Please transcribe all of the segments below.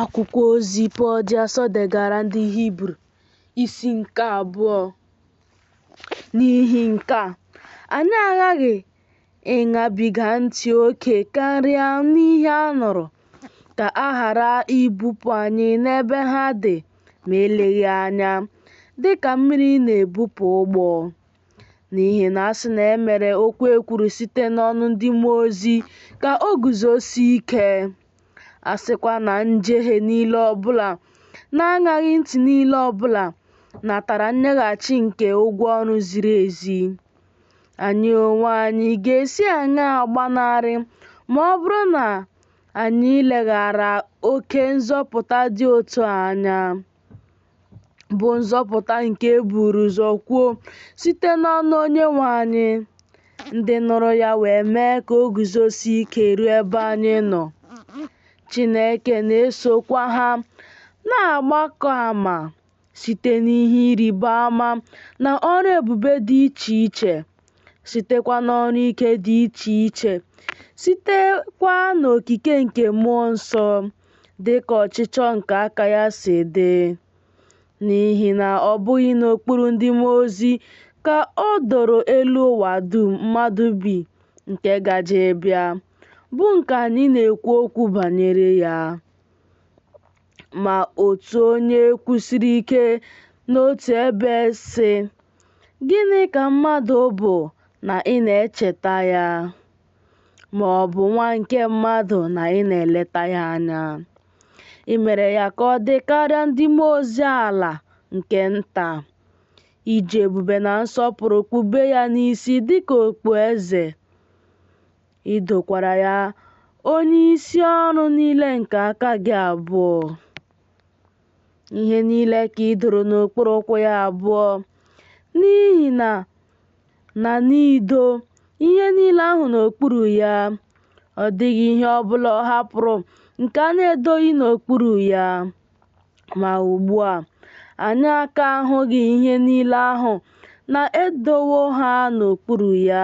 Akwụkwọ ozi Pọl dị asọ degara ndị Hibru isi nke abụọ. N'ihi nke a, anyị aghaghị ịṅabiga ntị oke karịa n'ihe a nụrụ ka a ghara ibupụ anyị n'ebe ha dị ma eleghị anya dị ka mmiri na-ebupụ ụgbọ. N'ihi na a sị na e mere okwu e kwuru site n'ọnụ ndị mmụọ ozi ka o guzosie ike. A sịkwa na njehie niile ọbụla na aṅaghị ntị niile ọbụla natara nyeghachi nke ụgwọ ọrụ ziri ezi, anyị onwe anyị ga-esi aṅaa gbanarị ma ọ bụrụ na anyị leghara oke nzọpụta dị otu a anya? bụ nzọpụta nke e buru ụzọ kwuo site n'ọnụ Onyenwe anyị. Ndị nụrụ ya wee mee ka o guzosie ike ruo ebe anyị nọ. Chineke na-esokwa ha na-agbakọ ama site n'ihe ịrịba ama na ọrụ ebube dị iche iche, sitekwa n'ọrụ ike dị iche iche, sitekwa n'okike nke mmụọ nsọ. dị ka ọchịchọ nke aka ya si dị, n'ihi na ọ bụghị n'okpuru ndị mmụọ ozi ka o doro elu ụwa dum mmadụ bi nke gaje ịbịa, bụ nke anyị na-ekwu okwu banyere ya. Ma otu onye kwusiri ike n'otu ebe, sị, Gịnị ka mmadụ bụ na ị na-echeta ya? ma ọ bụ nwa nke mmadụ na ị na-eleta ya anya. I mere ya ka ọ dị karịa ndị mmụọ ozi ala nke nta. I ji ebube na nsọpụrụ kpube ya n'isi dị ka okpueze. I dokwara ya onyeisi ọrụ niile nke aka gị abụọ. ihe niile ka i doro n'okpuru ụkwụ ya abụọ n'ihi na na n'ido ihe niile ahụ n'okpuru ya ọ dịghị ihe ọ bụla ọ hapụrụ nke a na-edoghị n'okpuru ya ma ugbu a anyị aka ahụghị ihe niile ahụ na e dowo ha n'okpuru ya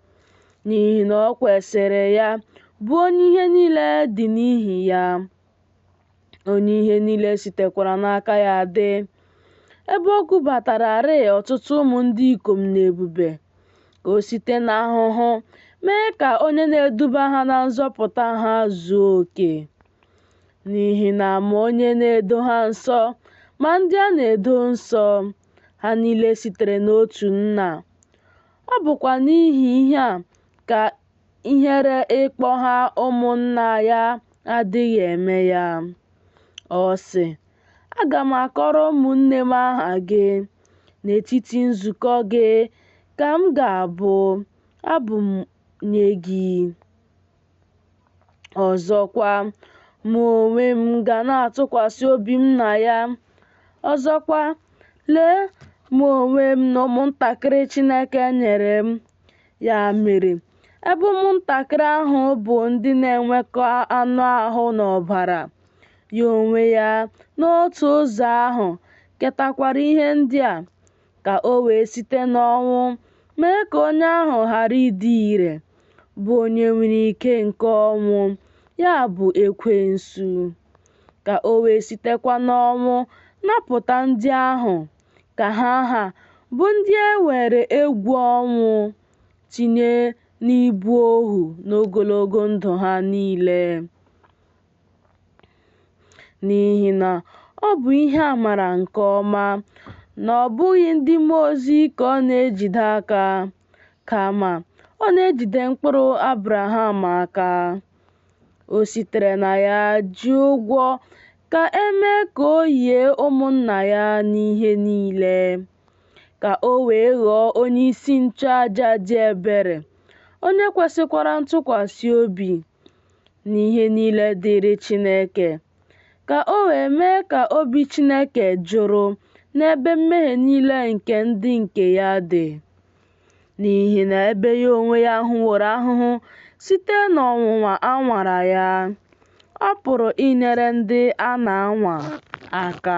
n'ihi na o kwesịrị ya, bụ onye ihe niile dị n'ihi ya, onye ihe niile sitekwara n'aka ya dị. Ebe o kubatararị ọtụtụ ụmụ ndị ikom n'ebube, ka o site n'ahụhụ mee ka onye na-eduba ha na nzọpụta ha zuo oke. N'ihi na ma onye na-edo ha nsọ ma ndị a na-edo nsọ, ha niile sitere n'otu Nna. Ọ bụkwa n'ihi ihe a ka ihere ịkpọ ha ụmụnna ya adịghị eme ya. Ọ sị, Aga m akọrọ ụmụnne m aha gị, n'etiti nzukọ gị ka m ga-abụ abụ nye gị. Ọzọkwa, mụ onwe m ga na-atụkwasị obi m na ya. Ọzọkwa, lee, mụ onwe m na ụmụntakịrị Chineke nyere m. Ya mere, ebe ụmụntakịrị ahụ bụ ndị na-enwekọ anụ ahụ na ọbara, ya onwe ya n'otu ụzọ ahụ ketakwara ihe ndị a. ka o wee site n'ọnwụ mee ka onye ahụ ghara ịdị ire, bụ onye nwere ike nke ọnwụ, ya bụ, Ekwensu, ka o wee sitekwa n'ọnwụ napụta ndị ahụ ka ha ha, bụ ndị e were egwu ọnwụ tinye n'ibu ohu n'ogologo ndụ ha niile. N'ihi na ọ bụ ihe a mara nke ọma na ọ bụghị ndị mmụọ ozi ka ọ na-ejide aka, kama ọ na-ejide mkpụrụ Abraham aka. O sitere na ya ji ụgwọ ka e mee ka o yie ụmụnna ya n'ihe niile, ka o wee ghọọ onye isi nchụaja dị ebere, onye kwesịkwara ntụkwasị obi, n'ihe niile dịịrị Chineke, ka o wee mee ka obi Chineke jụrụ n'ebe mmehie niile nke ndị nke ya dị. N'ihi na ebe ya onwe ya hụworo ahụhụ site n'ọnwụnwa a nwara ya, ọ pụrụ inyere ndị a na-anwa aka.